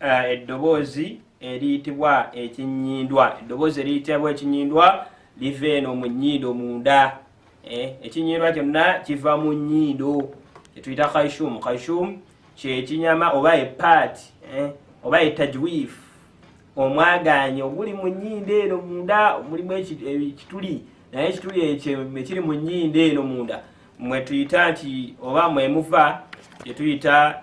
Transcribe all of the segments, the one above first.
uh, eddoboozi eriyitibwa ekinyindwa eddoboozi eriyitibwa ekinyindwa liva eno mu nyindo munda eh, ekinyindwa kyonna kiva mu nyindo kyetuyita kaishum kaishum kyekinyama oba epaat eh, oba etajwif omwaganyi oguli mu nyindo eno munda mulimu ekituli naye ekituli ekyo ekiri mu nyindo eno munda mwetuyita nti oba mwemuva kyetuyita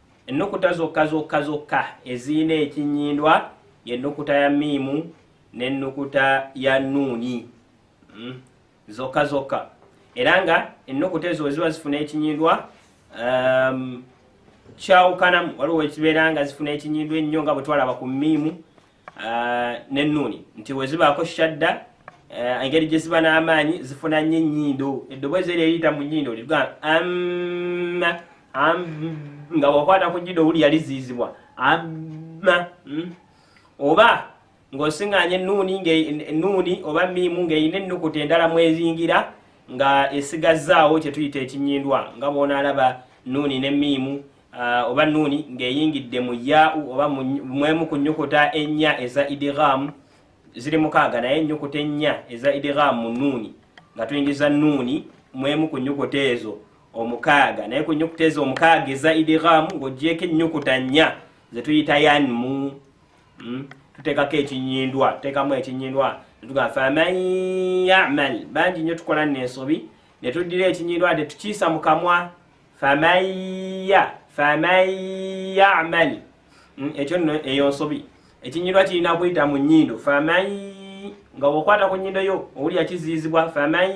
Ennukuta zokka zokka zokka ezirina ekinnyindwa y'ennukuta ya miimu n'ennukuta ya nuuni hmm? zokka zokka era nga ennukuta ezo weziba zifuna ekinnyindwa um, kyawukanamu waliwo ekibeera nga zifuna ekinyindo ennyo nga bwetwalaba ku miimu uh, nennuuni nti wezibaako shadda uh, engeri gye ziba n'amaanyi zifuna nnyo ennyindo eddoboozi eryo eriyita mu nnyindo liga amma am nga wakwata ku nnyindo owuli yaliziizibwa amma mm? oba ng'osiŋŋaanya ennuuni ennuuni oba miimu ng'erina ennukuta endala mwezingira nga esigazzaawo kye tuyita ekinyindwa nga bw'onaalaba nnuuni ne miimu uh, oba nuuni ng'eyingidde mu yaau oba mwemu ku nyukuta ennya eza idighamu ziri mukaaga naye enyukuta ennya eza idighamu mu nuuni nga tuyingiza nuuni mwemu ku nyukuta ezo omukaaga naye ku nyukuta ezo omukaaga eza idighamu ng'ogyeko ennyukuta nnya ze tuyita yanmu hmm? tuteekako ekinyindwa tuteekamu ekinyindwa tugaa faman yamal bangi nnyo tukola nensobi ne tuddira ekinyindwa tetukiisa mu kamwa famaya famayamal mm, ekyo nno eyo nsobi ekinyirwa kirina kuyita mu nyindo faman nga wokwata ku nyindo yo owulira kiziyizibwa faman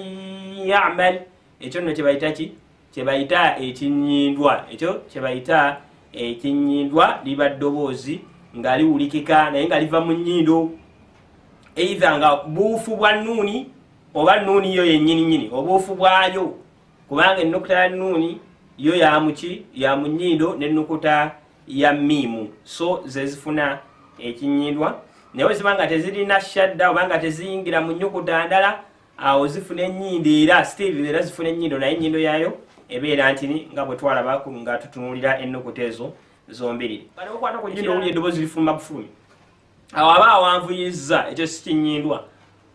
yamal ekyo nno kyebayita ki kyebayita ekinyindwa ekyo kyebayita ekinyindwa liba ddoboozi nga liwulikika naye nga liva mu nyindo eitha nga buufu bwa nuuni oba nuuni yo yennyini nyini obuufu bwayo kubanga ennukuta ya nuuni yo yamuki ya munyindo nennukuta ya miimu so zezifuna ekinyindwa naye weziba nga tezirina shadda oba nga teziyingira mu nyukuta ndala awo zifuna enyindo era still era zifuna enyindo naye enyindo yayo ebeera ntini nga bwetwalaba nga tutunulira ennukuta ezo zombiri okwata ku nyindo owulira eddoboozi lifuluma bufulumi awo aba awanvuyizza ekyo sikinyindwa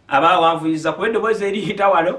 aba awanvuyizza kuba eddoboozi eriyita wano